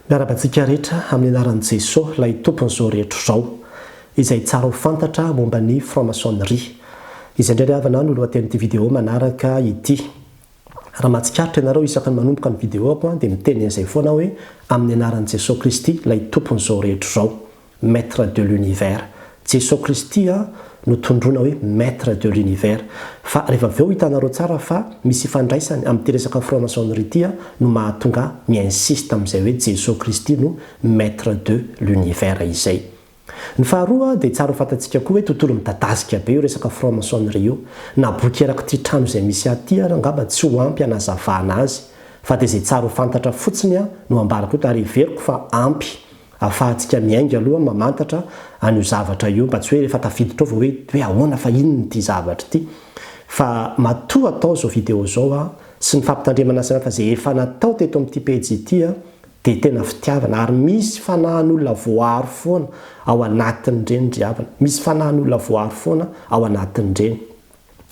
Miarahaba antsika rehetra amin'ny anaran'i Jesoa ilay Tompon'izao rehetra izao, izay tsara ho fantatra momba ny franc-maçonnerie. Izay indray ry havana no lohatenin'ity video manaraka ity. Raha mahatsikaritra ianareo isaka ny manomboka ny video-ako dia miteny an'izay foana aho hoe, Amin'ny anaran'i Jesoa Kristy ilay Tompon'izao rehetra izao. Maître de l'univers. Jeso Kristy an no tondroina hoe Maître de l'univers. Fa rehefa avy eo hitanareo tsara fa misy ifandraisany amin'ity resaka franc-maçonnerie ity an no mahatonga ahy mi-insiste amin'izay hoe Jeso Kristy no Maître de l'univers izay. Ny faharoa dia tsara ho fantatsika koa hoe tontolo midadasika be io resaka franc-maçonnerie io. Na boky erak'ity trano izay misy ahy ity ary angamba tsy ho ampy hanazavana azy. Fa dia izay tsara ho fantatra fotsiny an no ambarako eto ary heveriko fa ampy. Afahantsika miainga aloha mamantatra an'io zavatra io mba tsy hoe rehefa tafiditra ao vao hoe hoe ahoana fa inona ity zavatra ity. Fa matoa atao izao video izao an, sy ny fampitandremana sy ny hafa izay efa natao teto amin'ity pejy ity an, dia tena fitiavana ary misy fanahin'olona voaaro foana ao anatin'ireny ry havana, misy fanahin'olona voaaro foana ao anatin'ireny.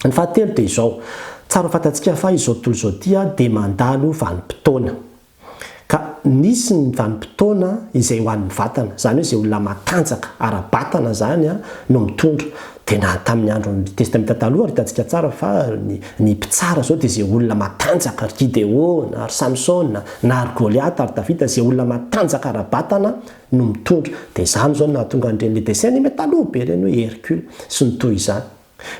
Ny fahatelo dia izao, tsara ho fantatsika fa izao tontolo izao ity an dia mandalo vanim-potoana. Ka nisy ny vanim-potoana izay ho an'ny vatana, izany hoe izay olona matanjaka ara-batana izany no mitondra. Dia na tamin'ny andron'ny Testamenta Taloha ary hitantsika tsara fa ny ny mpitsara izao dia izay olona matanjaka, ry Gideona, ry Samsona, na ry Goliata, ry Davida, izay olona matanjaka ara-batana no mitondra. Dia izany izao no nahatonga an'ireny le dessin animé taloha be ireny hoe Hercule sy ny toy izany.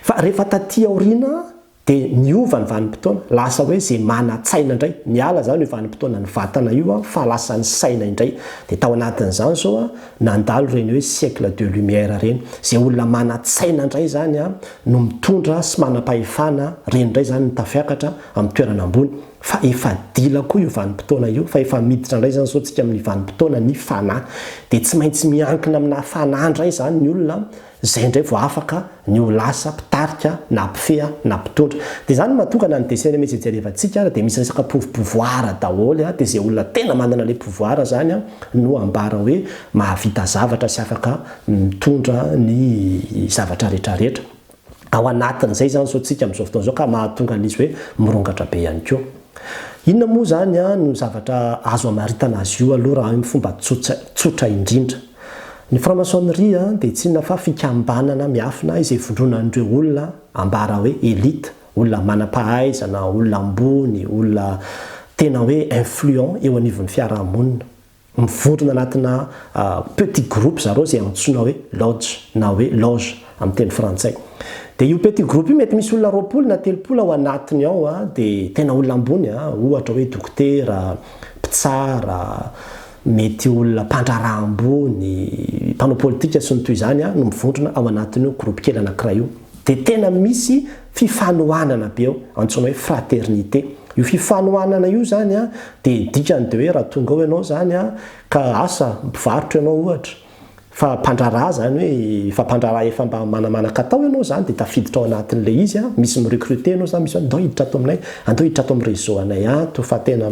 Fa rehefa taty aoriana, Dia miova ny vanim-potoana, lasa hoe izay manan-tsaina indray. Miala izany io vanim-potoanan'ny vatana io fa lasa ny saina indray. Dia tao anatin'izany izao nandalo ireny hoe siècle de lumière ireny. Izay olona manan-tsaina indray izany no mitondra sy manam-pahefana, ireny indray izany no tafiakatra amin'ny toerana ambony. Fa efa dila koa io vanim-potoana io fa efa miditra indray izany izao isika amin'ny vanim-potoanan'ny fanahy. Dia tsy maintsy miankina aminà fanahy indray izany ny olona Izay indray vao afaka ny ho lasa mpitarika na mpifeha na mpitondra. Dia izany no mahatonga na ny dessin anime izay jerevantsika ary dia misy resaka pouv pouvoir daholo dia izay olona tena manana ilay pouvoir izany no ambara hoe mahavita zavatra sy afaka mitondra ny zavatra rehetra rehetra ao anatin'izay izany izao tsika amin'izao fotoana izao ka mahatonga an'izy hoe mirongatra be ihany koa. Inona moa izany no zavatra azo amaritana azy io aloha raha amin'ny fomba tsotra indrindra? Ny franc-maçonnerie dia tsy inona fa fikambanana miafina izay ivondronan'ireo olona ambara hoe elite, olona manam-pahaizana, olona ambony, olona tena hoe influents eo anivon'ny fiaraha-monina. Mivondrona anatina petit groupe zareo izay antsoina hoe lodge na hoe loge amin'ny teny frantsay. Dia io petit groupe io mety misy olona roapolo na telopolo ao anatiny ao dia tena olona ambony ohatra hoe dokotera, mpitsara, Mety olona mpandraharaha ambony, mpanao politika sy ny toy izany no mivondrona ao anatin'io groupe kely anankiray io. Dia tena misy fifanohanana be ao, antsoina hoe fraternité. Io fifanohanana io izany dia dikany dia hoe raha tonga ao ianao izany ka asa mpivarotra ianao ohatra, fa mpandraharaha izany hoe efa mpandraharaha efa mba manamanan-katao ianao izany dia tafiditra ao anatin'ilay izy, misy mi-recruter anao izany, misy hoe andao hiditra ato aminay, andao hiditra ato amin'ny réseau anay ato fa tena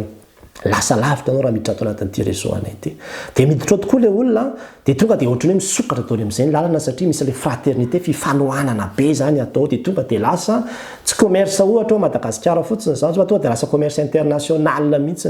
Lasa lavitra anao raha miditra ato anatin'ity réseau anay ity. Dia miditra ao tokoa ilay olona dia tonga dia ohatran'ny hoe misokatra daholo amin'izay ny lalana satria misy ilay fraternité, fifanohanana be izany atao ao dia tonga dia lasa tsy commerce ohatra ao Madagasikara fotsiny izany fa tonga dia lasa commerce international mihitsy.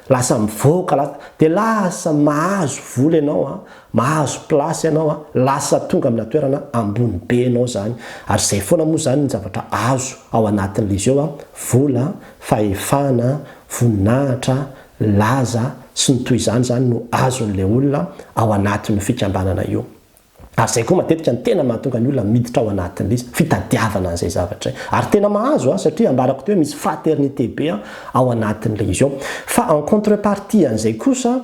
Lasa mivoaka, dia lasa mahazo vola ianao. Mahazo place ianao a, lasa tonga amina toerana ambony be ianao zany, ary zay foana moa zany ny zavatra azo ao anatin'le jeu a, vola, fahefana, voninahitra, laza, sy ny toy izany zany no azon'le olona ao anatin'io fikambanana io. Ary zay koa matetika ny tena mahatonga ny olona miditra ao anatin'le izy, fitadiavana an'zay zavatra zay. Ary tena mahazo a, satria ambarako teo misy fraternité be ao anatin'le izy ao. Fa en contrepartie an'zay kosa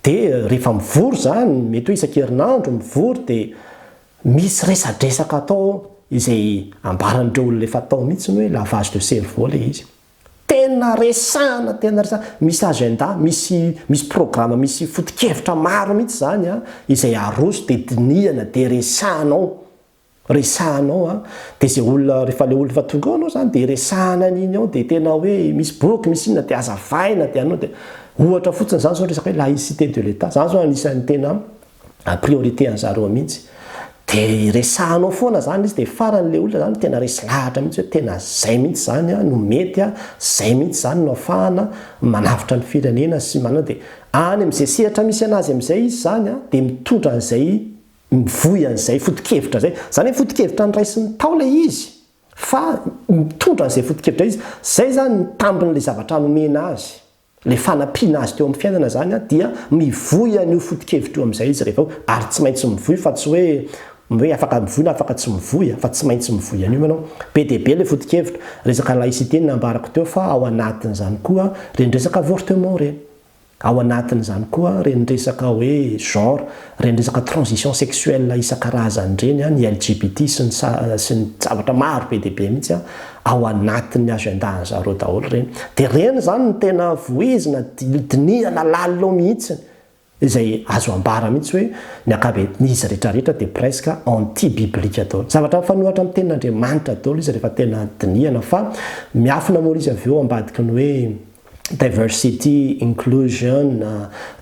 Dia rehefa mivory izany, mety hoe isan-kerinandro mivory dia misy resadresaka atao ao izay ambaran'ireo olona efa tao mihitsy hoe lavage de cerveau ilay izy. Tena resahana, tena resahana. Misy agenda, misy misy programa, misy foto-kevitra maro mihitsy izany izay aroso dia dinihana dia resahana ao. resahanao an de ze olona refa le olona efa tonga ao anao zany de resahana an'iny ao de tena hoe misy boky misy inona de azavaina de anao de ohatra fotsiny zany zao resaka hoe laïcité de l'Etat zany zao anisan'ny tena priorité anzareo mihintsy de resahanao foana zany izy de farany le olona zany tena resy lahatra mihintsy hoe tena zay mihintsy zany an no mety an zay mihintsy zany no afahana manavotra ny firenena sy manao de any amze sehatra misy anazy amzay izy zany an de mitondra anzay mivoy an'izay foto-kevitra izay. Izany hoe foto-kevitra noraisin'ny tao ilay izy fa mitondra an'izay foto-kevitra izy. Izay izany ny tambin'ilay zavatra nomena azy. Ilay fanampiana azy teo amin'ny fiainana izany dia mivoy an'io foto-kevitra io amin'izay izy rehefa avy eo. Ary tsy maintsy mivoy fa tsy hoe hoe afaka mivoy na afaka tsy mivoy fa tsy maintsy mivoy an'io ianao. Be dia be ilay foto-kevitra. Resaka laïcité ny nambarako teo fa ao anatin'izany koa ireny resaka avortement ireny. Ao anatin'izany koa ireny resaka hoe genre, ireny resaka transition sexuelle isan-karazany ireny, ny LGBT sy ny sy ny zavatra maro be dia be mihitsy ao anatin'ny agenda-n'ny zareo daholo ireny. Dia ireny izany no tena vohizina, dinihana lalina mihitsy, izay azo ambara mihitsy hoe ny ankabean'izy rehetra rehetra dia presque anti-biblique daholo. Zavatra mifanohatra amin'ny tenin'Andriamanitra daholo izy rehefa tena dinihana fa miafina moa ilay izy avy eo ambadiky ny hoe diversity, inclusion,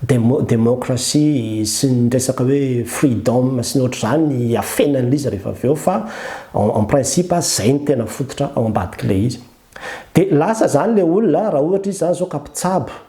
demo, democracy sy ny resaka hoe freedom sy ny ohatr'izany afenan'ilay izy rehefa avy eo fa en, en principe izay no tena fototra ao ambadik'ilay izy. Dia lasa izany ilay olona raha ohatra izy izany izao ka mpitsabo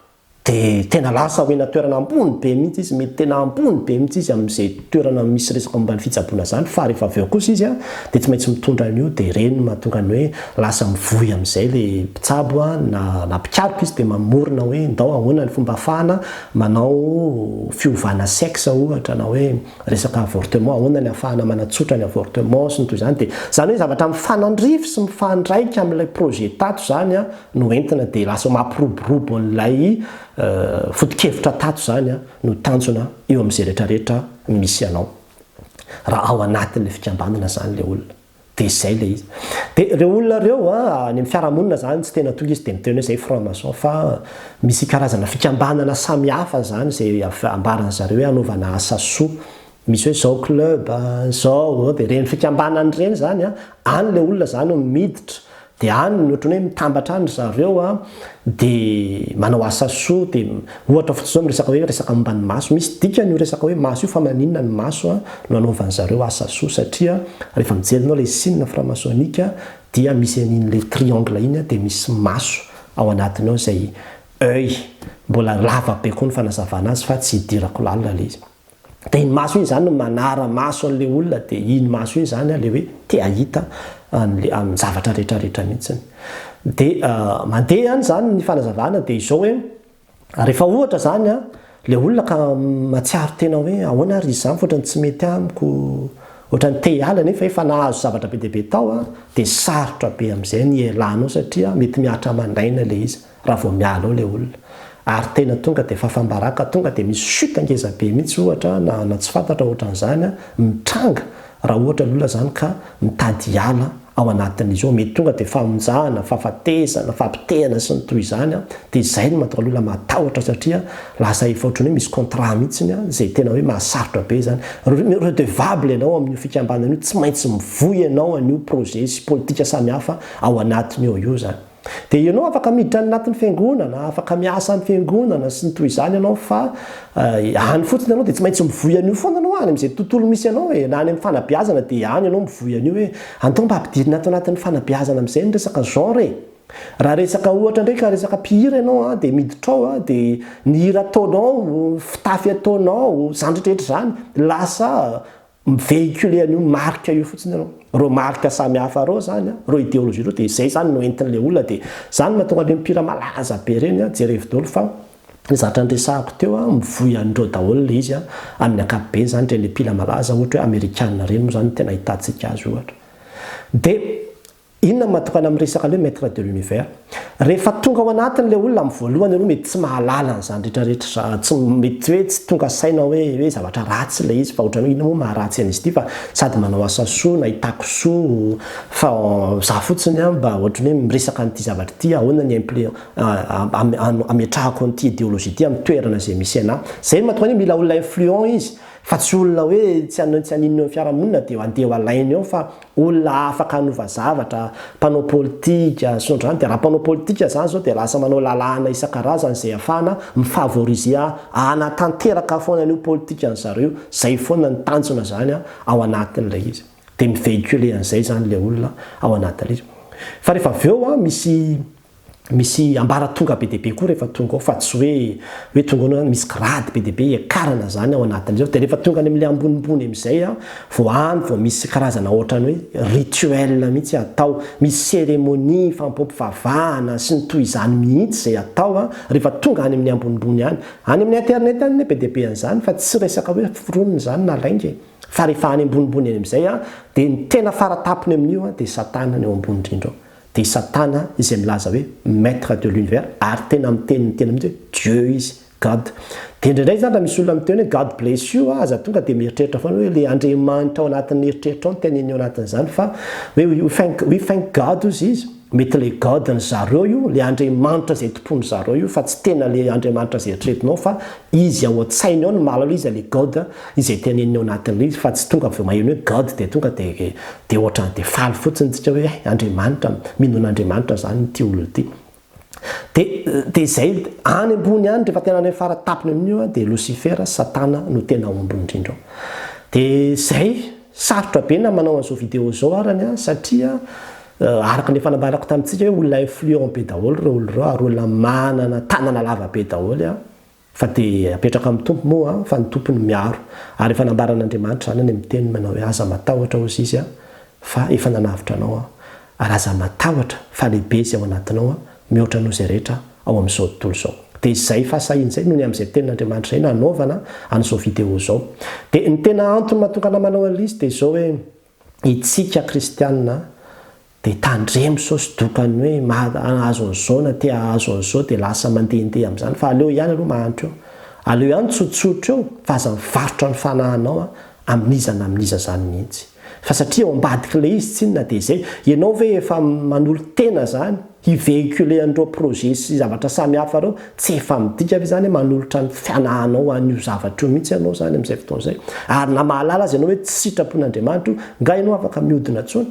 dia tena lasa omena toerana ambony be mihitsy izy, mety tena ambony be mihitsy izy amin'izay toerana misy resaka momba ny fitsaboana izany fa rehefa avy eo kosa izy dia tsy maintsy mitondra an'io dia ireny no mahatonga ny hoe Lasa mivoy amin'izay ilay mpitsabo na na mpikaroka izy dia mamorona hoe ndao ahoana ny fomba afahana manao fiovana sexe ohatra na hoe resaka avortement ahoana ny afahana manatsotra ny avortement sy ny toy izany dia izany hoe zavatra mifanandrify sy mifandraika amin'ilay projet tato izany no entina dia lasa mampiroborobo an'ilay foto-kevitra tato izany no tanjona eo amin'izay rehetra rehetra misy anao raha ao anatin'ilay fikambanana izany ilay olona. Dia izay ilay izy. Dia ireo olona ireo, any amin'ny fiarahamonina izany, tsy tena tonga izy dia miteny hoe izay franc maçon, fa misy karazana fikambanana samihafa izany izay ambaran-dry zareo hoe hanaovana asa soa. Misy hoe izao club, izao, dia ireny fikambanana ireny izany, any ilay olona izany no miditra Dia any ny ohatran'ny hoe mitambatra any ry zareo a, dia manao asa soa, dia ohatra fotsiny izao miresaka hoe resaka momba ny maso, misy dikany io resaka hoe maso io fa maninona ny maso a, no anaovan'ny zareo asa soa satria rehefa mijery ianao ilay signe franc-maçonnique dia misy an'iny le triangle iny a, dia misy maso ao anatiny ao izay oeil, mbola lava be koa ny fanazavana azy fa tsy hidirako lalina ilay izy. Dia iny maso iny izany no manara-maso an'ilay olona, dia iny maso iny izany ilay hoe te-hahita an'ilay, amin'ny zavatra rehetra rehetra mihitsy. Dia mandeha ihany izany ny fanazavana, dia izao hoe, rehefa ohatra izany ilay olona ka mahatsiaro tena hoe ahoana ary izy izany fa ohatran'ny tsy mety amiko, ohatran'ny te hiala nefa efa nahazo zavatra be dia be tao, dia sarotra be amin'izay ny hialanao satria mety mihatra aman'aina ilay izy. raha vao miala ao ilay olona ary tena tonga dia fafambaraka tonga dia misy chute ngeza be mihitsy ohatra na na tsy fantatra ohatran'izany mitranga raha ohatra ny olona izany ka mitady hiala ao anatin'izy io, mety tonga dia famonjana, fahafatesana, fampitehana sy ny toy izany dia izay no mahatonga ny olona matahotra satria lasa efa ohatran'ny hoe misy contrat mihitsy izay tena hoe mahasarotra be izany, redevable ianao amin'io fikambanana io tsy maintsy mivoy ianao an'io projet sy politika samihafa ao anatiny ao io izany. Dia ianao afaka miditra any anatin'ny fiangonana, afaka miasa amin'ny fiangonana sy ny toy izany ianao fa any fotsiny ianao dia tsy maintsy mivoy an'io foana ianao any amin'izay tontolo misy anao e, na any amin'ny fanabeazana dia any ianao mivoy an'io hoe anto mba ampidirina ato anatin'ny fanabeazana amin'izay ny resaka genre e. Raha resaka ohatra indray ka resaka mpihira ianao a, dia miditra ao a, dia ny hira ataonao, fitafy ataonao, izany rehetra rehetra izany, lasa Mi-véhiculer an'io marika io fotsiny ianao. Ireo marika samy hafa ireo izany, ireo idéologie ireo dia izay izany no entin'ilay olona dia izany no mahatonga an'ireny mpihira malaza be ireny, jerevo daholo fa ny zavatra niresahako teo, mivoy an'ireo daholo ilay izy amin'ny ankapobeny izany, ireny mpihira malaza ohatra hoe amerikana ireny moa izany no tena ahitantsika azy ohatra. Dia Inona ny mahatokana amin'ny resaka le maître de l'univers? Rehefa tonga ao anatiny le olona amin'ny voalohany aloha mety tsy mahalala an'izany rehetra rehetra za tsy mety hoe tsy tonga saina hoe hoe zavatra ratsy le izy fa ohatrany hoe inona moa maharatsy an'izy ity fa sady manao asa soa nahitako soa fa za fotsiny an mba ohatrany hoe miresaka an'ity zavatra ity ahoana ny implé ametrahako an'ity ideologie ity amin'ny toerana izay misy anà zay no mahatokana hoe mila olona influent izy fa tsy olona hoe tsy haninona eo amin'ny fiarahamonina dia andeha ho alainy eo fa olona afaka hanova zavatra, mpanao politika, sondrany dia raha mpanao politika zany zao dia lasa manao lalàna isan-karazany zay afahana mi-favoriser hanatanteraka foana an'io politikan'ny zareo, zay foana ny tanjona zany ao anatin'ilay izy, dia mi-vehiculer an'izay zany ilay olona ao anatin'ilay izy, fa rehefa avy eo misy. misy ambaratonga be dia be koa rehefa tonga ao fa tsy hoe hoe tonga ao na misy grade be dia be hiakarana izany ao anatin'izao dia rehefa tonga any amin'ilay ambonimbony amin'izay vao any vao misy karazana ohatran'ny hoe rituel mihitsy atao misy cérémonie fampivavahana sy ny toy izany mihitsy izay atao rehefa tonga any amin'ny ambonimbony any any amin'ny internet any anie be dia be an'izany fa tsy resaka hoe foronina izany na lainga e fa rehefa any ambonimbony any amin'izay dia ny tena faratapony amin'io dia satana ny ao ambony indrindra ao Dia Satana izay milaza hoe Maître de l'univers ary tena miteny ny teny mihitsy hoe Dieu izy, God. Dia indraindray izany raha misy olona miteny hoe God bless you a, aza tonga dia mieritreritra foana hoe ilay Andriamanitra ao anatin'ny eritreritrao no teneniny ao anatin'izany fa hoe we thank, we thank God hozy izy, mety ilay God-n'i zareo io, ilay Andriamanitra izay tompoin'i zareo io fa tsy tena ilay Andriamanitra izay eritreretinao fa Izy ao an-tsainy ao no mahalala iza le God izay teneniny ao anatin'ilay izy fa tsy tonga avy eo maheno hoe God dia tonga dia dia ohatrany dia faly fotsiny tsika hoe hay Andriamanitra mino an'Andriamanitra zany ity olona ity. Dia dia izay any ambony any rehefa tena any fara tapony amin'io dia Losifera, Satana no tena omby indrindra ao. Dia izay. Sarotra be na manao an'izao vidéo izao arany an, satria araka ilay fanambarako tamintsika hoe olona influent be daholo ireo olona ireo ary olona manana tanana lava be daholo an, fa dia apetraka amin'ny Tompo moa an, fa ny Tompo no miaro, ary efa nambaran'Andriamanitra izany any amin'ny teniny manao hoe aza matahotra hozy Izy an, fa efa nanavotra anao aho. Ary aza matahotra fa lehibe izay ao anatinao mihoatra noho izay rehetra ao amin'izao tontolo izao. Dia izay fahasahiana izay no ny amin'izay tenin'Andriamanitra izay no hanaovana an'izao video izao. Dia ny tena antony mahatongana manao an'lizy dia izao hoe Itsika kristianina dia tandremo sao tsy doka ny hoe mahazo an'izao na te hahazo an'izao dia lasa mandehandeha amin'izany fa aleo ihany aloha mahantra eo. Aleo ihany tsotsotra eo fa aza mivarotra ny fanahinao Amin'iza na amin'iza zany mihitsy. Fa satria ao ambadik'ilay izy tsinona dia izay. Ianao ve efa manolo-tena zany hi-vehiculer an'ireo projets sy zavatra samy hafa ireo? Tsy efa midika ve izany hoe manolotra ny fianahanao ho an'io zavatra io mihitsy ianao izany amin'izay fotoana izay? Ary na mahalala aza ianao hoe tsy sitrapon'Andriamanitra io, nga ianao afaka mihodina intsony?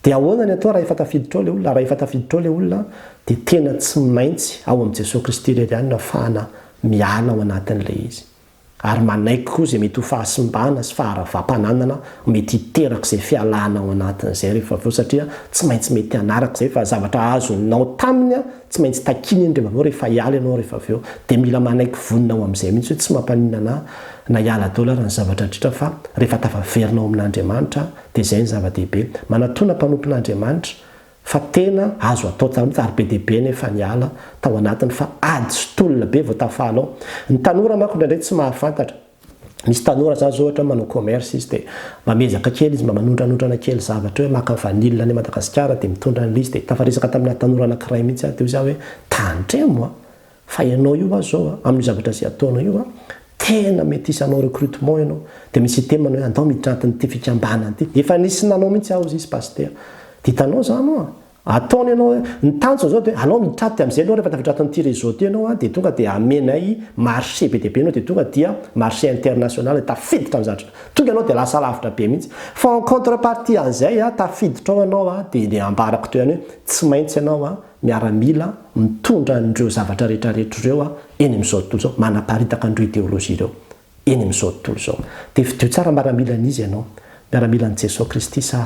Dia ahoana ny atao raha efa tafiditra ao ilay olona? Raha efa tafiditra ao ilay olona dia tena tsy maintsy ao amin'i Jesoa Kristy irery ihany no afahana miala ao anatin'ilay izy. Ary manaiky koa izay mety ho fahasimbana sy faharavam-pananana mety hiteraka izay fialana ao anatin'izay rehefa avy eo satria tsy maintsy mety hanaraka izay fa zavatra azonao taminy tsy maintsy takina iny rehefa avy eo rehefa hiala ianao rehefa avy eo dia mila manaiky vonona ao amin'izay mihitsy hoe tsy mampaninona anah na hiala daholo ary ny zavatra rehetra fa rehefa tafaverina ao amin'Andriamanitra Dia izay no zava-dehibe. Manatona mpanompon'Andriamanitra fa tena azo atao taloha, ary be dia be anefa ny ala tao anatiny fa ady sy tolona be vao tafaly ao. Ny tanora manko indraindray tsy mahafantatra. Misy tanora zany zao ohatra manao commerce izy dia mba miezaka kely izy mba manondranondrana kely zavatra hoe maka vanille any Madagasikara dia mitondra an'ilay izy dia tafaresaka taminà tanora anankiray mihitsy aho dia hoy zà hoe tandremo a! Fa ianao io aza zao a, amin'io zavatra izay ataonao io a, tena mety hisy hanao recrutement ianao, dia misy hiteny manao hoe andao miditra anatin'ity fikambanana ity. Efa nisy nanao mihitsy aho izy Pasitera. Dia hitanao izany oa, ataony ianao hoe, ny tanjony izao dia hoe alao miditra ato dia amin'izay ianao rehefa tafiditra ato amin'ity réseau ity ianao a, dia tonga dia hamenay marché be dia be ianao dia tonga dia marché international, tafiditra ny zavatra, tonga ianao dia lasa lavitra be mihitsy. Fa en contrepartie an'izay a, tafiditra ao ianao a, dia dia ambarako teo ihany hoe tsy maintsy ianao a, miaramila mitondra an'ireo zavatra rehetrarehetra ireo eny amin'izao tontolo izao, manaparitaka an'ireo ideolojia ireo eny amin'izao tontolo izao. Dia fidio tsara maramilan'iza ianao, miaramilan'i Jesoa Kristy sa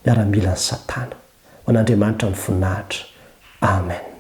miaramilan'i Satana. Ho an'Andriamanitra ny voninahitra. Amen.